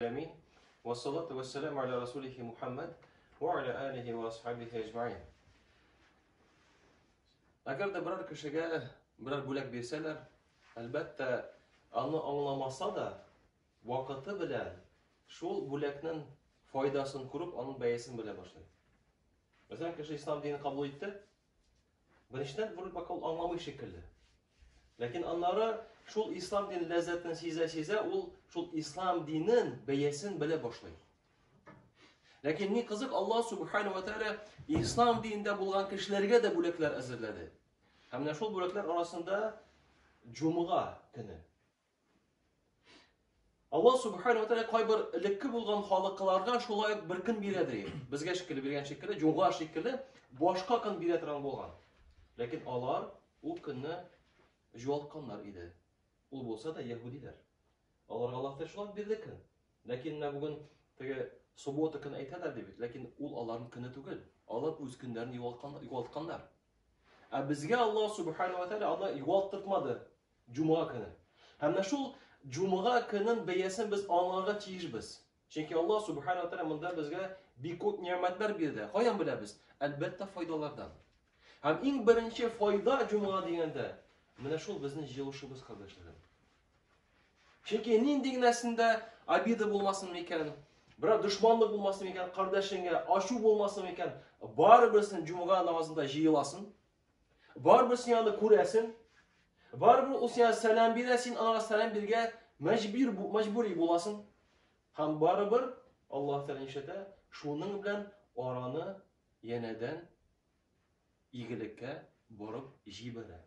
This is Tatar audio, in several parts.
Амин. Ва салату ва салам аля расулихи Мухаммад ва аля алихи ва асхабихи аҗмаин. Әгәр дә берәр кешегә берәр бүләк бирсәләр, әлбәттә, аны аңламаса да, вакыты белән шул бүләкнең файдасын күреп, аның бәясен белә башлый. Мәсәлән, кеше ислам динен кабул итте, Беренчедән, вроде как ул аңламый шикелле. Ләкин аннары шул ислам дин ләззәтен сизә-сизә, ул шул ислам динен бәясен белә башлый. Ләкин ни кызык, Аллаһ субхану ва тааля ислам динендә булган кешеләргә дә бүләкләр әзерләде. Һәм менә шул бүләкләр арасында җомга көне. Аллаһ субхана ва тәгалә кайбер элекке булган халыкларга шулай ук бер көн бирә ди. Безгә шикелле биргән шикелле, җомга шикелле башка көн бирә торган булган. Ләкин алар ул көнне җуалтканнар иде. Ул булса да яһудиләр. Аларга Аллаһ та шулай бирде көн. Ләкин менә бүген теге суббота көн әйтәләр дип, ләкин ул аларның көне түгел. Алар үз көннәрен югалтканнар. Ә безгә Аллаһ субхана ва тәгалә аны югалттырмады. Җомга көне. Һәм менә шул җомга көнен бәясен без аңларга тиешбез. Чөнки Аллаһ субхана тәгалә монда безгә бик күп нигъмәтләр бирде. Каян беләбез? Әлбәттә, файдалардан. Һәм иң беренче файда җомга дигәндә, менә шул безнең җыелышыбыз кардәшләрем. Чөнки нинди генә синдә обида булмасын микән, берәр дошманлык булмасын микән, кардәшеңә ачу булмасын микән, барыберсен җомга намазында җыеласың, Барбы син аны күрәсен? Барбы ул сиңа сәлам бирә, син аңа сәлам биргә мәҗбүр мәҗбүри буласың. Һәм барыбер Аллаһ Тәгалә ишетә, шуның белән араны янәдән игелеккә борып җибәрә.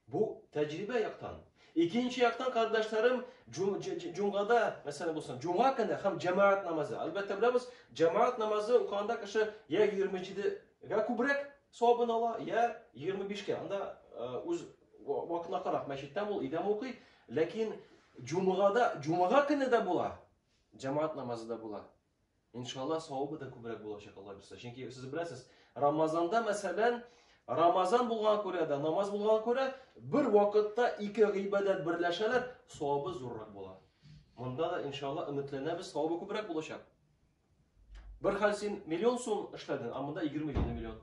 Бу тәҗрибә яктан. Икенче яктан кардәшләрем җомгада, мәсәлән булсын, җомга көне һәм җәмәгать намазы. Әлбәттә беләбез, җәмәгать намазы укыганда кеше я 27-гә күбрәк савабын ала, я 25-кә. Анда үз вакытына карап мәчеттә бул, өйдә укый. Ләкин җомгада, җомга көне дә була, җәмәгать намазы да була. Иншалла савабы да күбрәк булачак Алла бирсә. Чөнки сез беләсез, Рамазанда мәсәлән, Рамазан булган күрә дә, намаз булган күрә бер вакытта ике гыйбадәт берләшәләр, савабы зуррак була. Монда да иншалла өметләнәбез, савабы күбрәк булачак. Бер хәл син миллион сум эшләдең, а монда 20 миллион.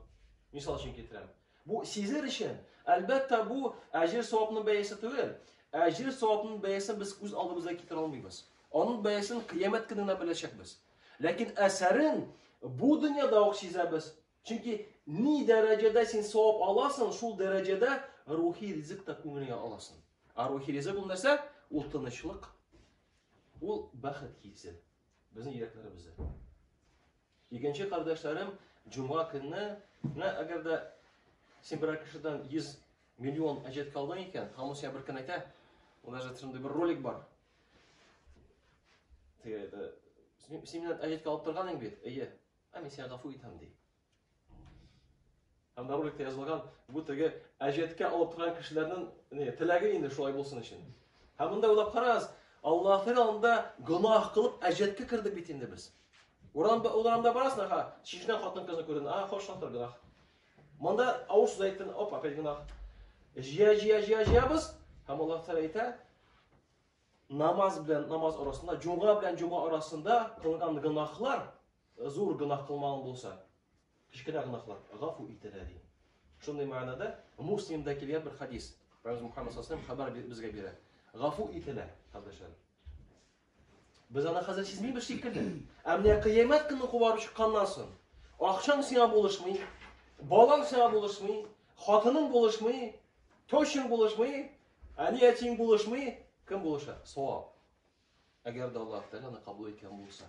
Мисал өчен китерәм. Бу сизер өчен. Әлбәттә, бу әҗер-савапның бәясе түгел. Әҗер-савапның бәясен без күз алдымызга китерә алмыйбыз. Аның бәясен кыямәт көнендә беләчәкбез. Ләкин әсәрен бу дөньяда ук сизәбез. Чөнки ни дәрәҗәдә син савап аласың, шул дәрәҗәдә рухи ризык та күңелеңә аласың. Ә рухи ризык ул нәрсә? Ул тынычлык, ул бәхет хисе безнең йөрәкләребездә. Икенче кардәшләрем җомга көнне, менә әгәр дә син берәр кешедән 100 миллион әҗәт калдың икән, һәм сиңа бер көн әйтә, ул даже шундый бер ролик бар. Теге, син миннән әҗәт калып торган бит, әйе, ә мин сиңа гафу итәм, ди. Һәм бу роликта язылган бу теге әҗәткә алып торган кешеләрнең не теләге инде шулай булсын өчен. Һәм монда уйлап карагыз, Аллаһның алдында гөнаһ кылып әҗәткә кердек бит инде без. Урамда урамда барасың, аха, чишнә хатын кызны күрдең, а хош хатыр гөнаһ. Монда авыр сүз әйттең, оп, опять гөнаһ. Җия җия җия җиябыз, һәм Аллаһ Тәгалә әйтә, намаз белән намаз арасында, җомга белән җомга арасында кылган гөнаһлар Зур гөнаһ кылмаган булса, кечкенә гөнаһлар гафу ителә, ди. Шундый мәгънәдә Муслимда килгән бер хадис. Пәйгамбер Мухаммад саллаллаху хәбәр безгә бирә. Гафу ителә, кардәшләр. Без аны хәзер сизмибез шикелле. Ә менә кыямәт көне куарып чыкканнан соң, акчаң сиңа булышмый, балаң сиңа булышмый, хатының булышмый, тощың булышмый, әни әтиң булышмый, кем булыша? Савап. Әгәр дә Аллаһ Тәгалә аны кабул иткән булса.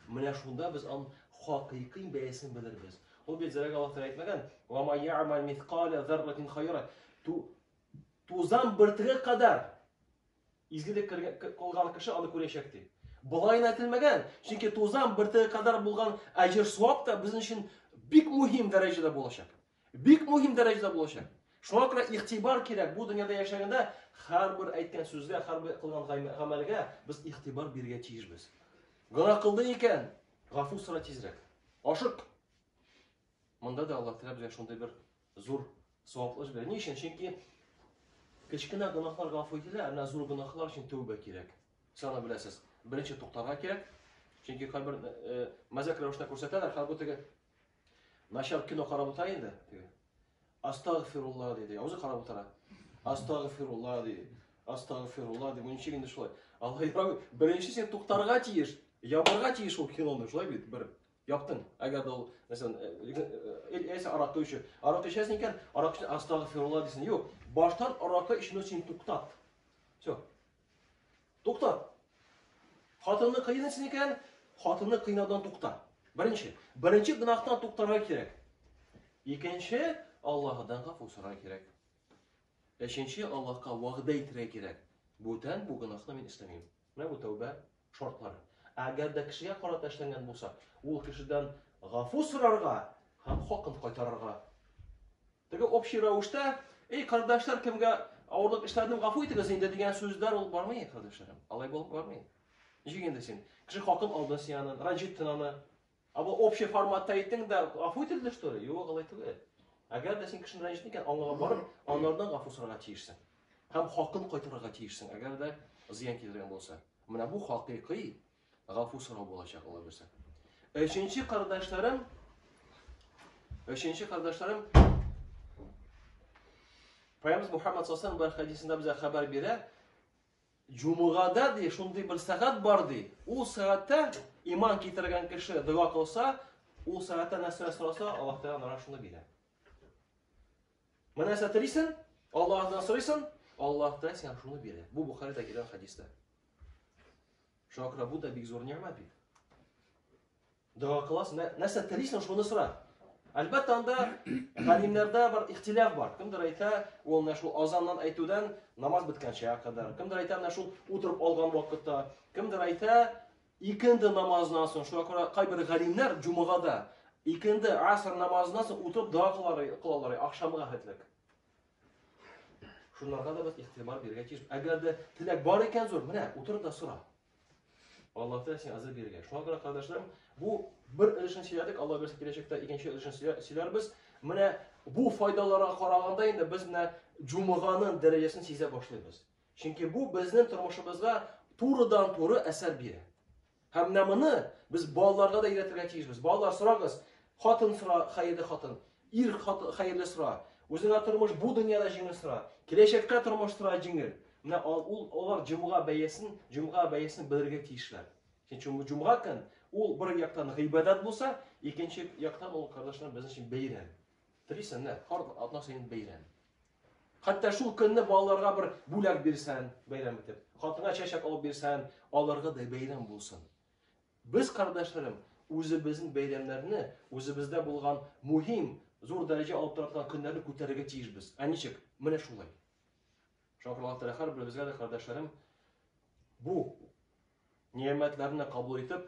Менә шунда без аның хакыйкый бәясен белербез. Ул бит зәрәгә Аллаһ Тәгалә әйтмәгән, "Ва ма я'мал мисқала зарратин хайра". Тузан бөртеге кадәр изгелек кылган кеше аны күрәчәк ди. Болай гына әйтелмәгән, чөнки тузан бөртеге кадәр булган әҗер-савап та безнең өчен бик мөһим дәрәҗәдә булачак. Бик мөһим дәрәҗәдә булачак. Шуңа күрә игътибар кирәк. Бу дөньяда яшәгәндә һәрбер әйткән сүзгә, һәрбер кылган гамәлгә без игътибар бирергә тиешбез. Гына кылды икән, гафу сора тизрәк. Ашык. Монда да Аллаһ Тәгалә безгә шундый бер зур саваплы бирә. Ни өчен? Чөнки кечкенә гөнаһлар гафу ителә, ә зур гөнаһлар өчен тәүбә кирәк. Сез аны беләсез. Беренче туктарга кирәк. Чөнки кайбер мәзәк рәвештә күрсәтәләр, хәл бу теге Начар кино карап утыра инде, диде. Астагфирулла диде. Я үзе карап утыра. Астагфирулла диде. Астагфирулла диде. Ничек инде шулай? Алла ярабби, беренче сен туктарга тиеш, ябарга тиеш ул киноны, шулай бит, бер. Яптың. Әгәр дә ул, мәсәлән, әсә аракы өчен, аракы эчәсең икән, аракы өчен астагфирулла дисең. Юк, баштан аракы эчүне син туктат. Все. Тукта. Хатынны кыйныйсың икән, хатынны кыйнаудан тукта. Беренче, беренче гынахтан туктарга кирәк. Икенче, Аллаһыдан гафу сорарга кирәк. Өченче, Аллаһка вәгъдә итәргә кирәк. Бүтән бу гынахны мин эшләмим. Менә бу тәүбә шартлары. Әгәр дә кешегә карата эшләнгән булса, ул кешедән гафу сорарга һәм хакын кайтарырга Теге общий рәвештә, эй, кардәшләр, кемгә авырлык эшләдем, гафу итегез инде дигән сүзләр ул бармый, кардәшләрем. Алай булып бармый. Ничек инде син? Кеше хакын алды сианы, ранҗиттен аны. Ә бу общий форматта әйттең дә, гафу ителде что ли? Юк, алай түгел. Әгәр дә син кешене рәнҗеттең икән, аңларга барып, аннардан гафу сорарга тиешсең. Һәм хакын кайтарырга тиешсең, әгәр дә зыян китергән булса. Менә бу хакыйкый Гафу сорау булачак ул әйберсә. Өченче кардәшләрем Өченче кардәшләрем Пәйгамбер Мухаммад саллаллаху алейһи хәдисендә безгә хәбәр бирә. Җумгада ди, шундый бер сәгать бар ди. Ул сәгатьтә иман китергән кеше дога кылса, ул сәгатьтә нәрсә сораса, Аллаһ Тәгалә аңа шуны бирә. Менә сәтерисен, Аллаһ Тәгалә сорыйсын, Аллаһ Тәгалә сиңа шуны бирә. Бу Бухаридә килгән хәдистә. Шакра, бу да бик зур нигъмә бит. Дога кыласың, нәрсә телисең, шуны сора. Әлбәттә, анда галимнәрдә бар ихтиляф бар. Кемдер әйтә, ул менә шул азаннан әйтүдән намаз беткәнчә кадәр. Кемдер әйтә, менә шул утырып алган вакытта. Кемдер әйтә, икенде намазыннан соң, шуңа күрә кайбер галимнәр җумгада икенде аср намазыннан соң утырып дога кылалар, ахшамга хәтлек. Шунларга да без ихтибар бирергә тиеш. Әгәр дә теләк бар икән зур, менә утыр да сора. Аллаһ Тәгалә сиңа әзер бирергә. Шуңа күрә, кардәшләрем, бу бер өлешен сөйләдек, Алла бирсә киләчәктә икенче өлешен сөйләрбез. Менә бу файдаларга караганда инде без менә җумаганың дәрәҗәсен сизә башлыйбыз. Чөнки бу безнең тормышыбызга турыдан-туры әсәр бирә. Һәм менә моны без балаларга да өйрәтергә тиешбез. Балалар, сорагыз, хатын сора, хәерле хатын, ир хатын, хәерле сора, үзеңә тормыш бу дөньяда җиңел сора, киләчәктә тормыш сора җиңел. Менә ул алар җомга бәясен, җомга бәясен белергә тиешләр. Чөнки җомга көн ул бер яктан гыйбадәт булса, икенче яктан ул кардәшләр безнең өчен бәйрәм. Телисең, менә карт атна саен бәйрәм. Хәтта шул көнне балаларга бер бүләк бирсән, бәйрәм итеп, хатынга чәчәк алып бирсән, аларга да бәйрәм булсын. Без, кардәшләрем, үзебезнең бәйрәмнәрне, үзебездә булган мөһим, зур дәрәҗә алып тора торган көннәрне күтәрергә тиешбез. Ә ничек? Менә шулай. Шуңа күрә Аллаһ Тәгалә һәрберебезгә дә, кардәшләрем, бу нигъмәтләрне кабул итеп,